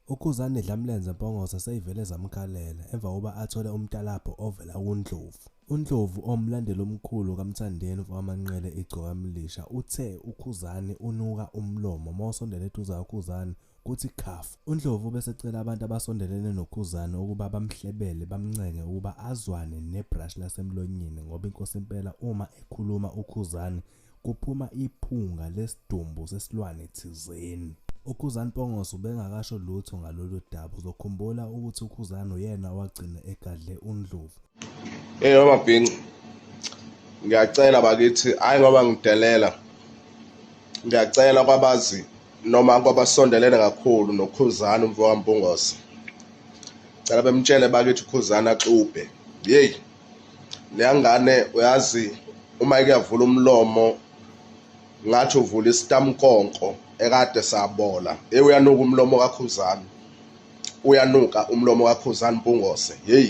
UKhuzani Dlamlenze Mpongose seyivele zamkhalela emva kokuba athole umtalabho ovela kuNdlovu. UNdlovu owumlandeli omkhulu kaMthandeni mfokaManqele Igcokamilisha uthe uKhuzani unuka umlomo uma usondela eduze kaKhuzani kuthi khafu. UNdlovu ubesecela abantu abasondelene noKhuzani ukuba bamhlebele bamncenge ukuba azwane nebhrashi lasemlonyeni ngoba inkosi impela uma ekhuluma uKhuzani kuphuma iphunga lesidumbu sesilwane thizeni. UKhuzani Mpongose ubengakasho lutho ngalolu daba. Uzokhumbula ukuthi uKhuzani uyena owagcina egadle uNdlovu. Hey wamabhinci ngiyacela bakithi hayi ngoba ngidelela ngiyacela kwabazi noma kwabasondelene kakhulu nokhuzana umfo kampungose cela bemtshele bakithi ukhuzana axubhe yeyi leyangane uyazi uma ikuyavula umlomo ngathi uvula isitamkonko ekade sabola hey uyanuka umlomo kakhuzani uyanuka umlomo kakhuzani mpungose hey